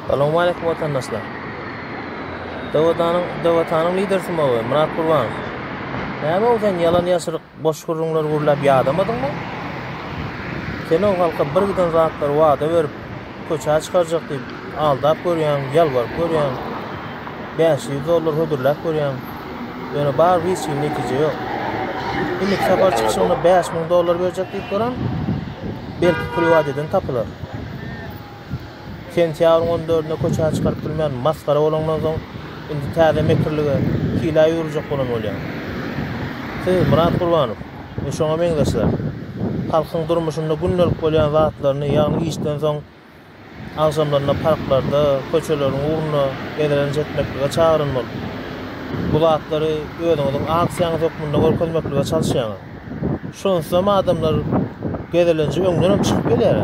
Salowmaleýkim watandaşlar. Dawatanyň Dawatanyň lider sumagy Myrat Gurbanow. Näme ol sen ýalan ýaşyryk boş gürrüňler gürläp ýadamadyňmy? Sen o halka bir giden zatlary wada berip köçä çykarjak diýip aldap görýäň, ýalbaryp görýäň. Bäş ýüz dollar hödürläp görýäň. Ýöne barybir hiç hili netije ýok. Indiki sapar çykyşyňda bäş müň dollar berjek diýip duran, belki priwat eden tapylar. Sentýabryň on dördünde köçä çykaryp bilmän masgara bolaňdan soň, indi täze mekirlige pile ýüwürjek bolan bolýaň. Siz, Myrat Gurbanow we şoňa meňzeşler, halkyň durmuşynda gündelik bolýan zatlaryny, ýagny işden soň agşamlaryna parklarda, köçeleriň ugrunda gezelenç etmeklige çagyryn bolup, bu zatlary özüňiziň aksiýaňyz hökmünde görkezmeklige çalyşýaňyz. Şonsuzam adamlar gezelenje öňdenem çykyp gelýär.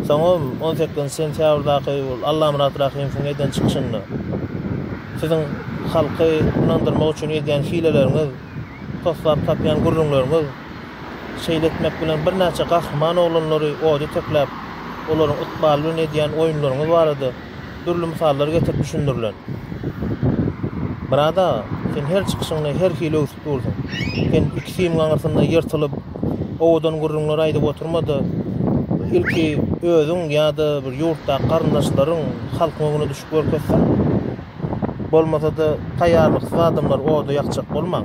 Soňam on sekizinji sentýabrdaky ol Allamyrat Rahymowyň eden çykyşynda Siziň halky ynandyrmak üçin edýän hileleriňiz, toslap tapýan gürrüňleriňiz, şeýle etmek bilen birnäçe gahryman oglanlary oda tekläp, olaryň ykbaly bilen edýän oýunlaryňyz barada dürli mysallar getirip düşündirilen. Myrat aga, sen her çykyşyňda her hili öwsüp dursuň. Sen iki sim gaňrysyna ýyrtylyp, owadan gürrüňler aýdyp oturma-da, ilki özüň ýa-da bir ýurtdaky garyndaşlaryň halkyň öňüne düşüp görkezseň. Bolmasa-da, taýýarlyksyz adamlary oda ýakjak bolmaň.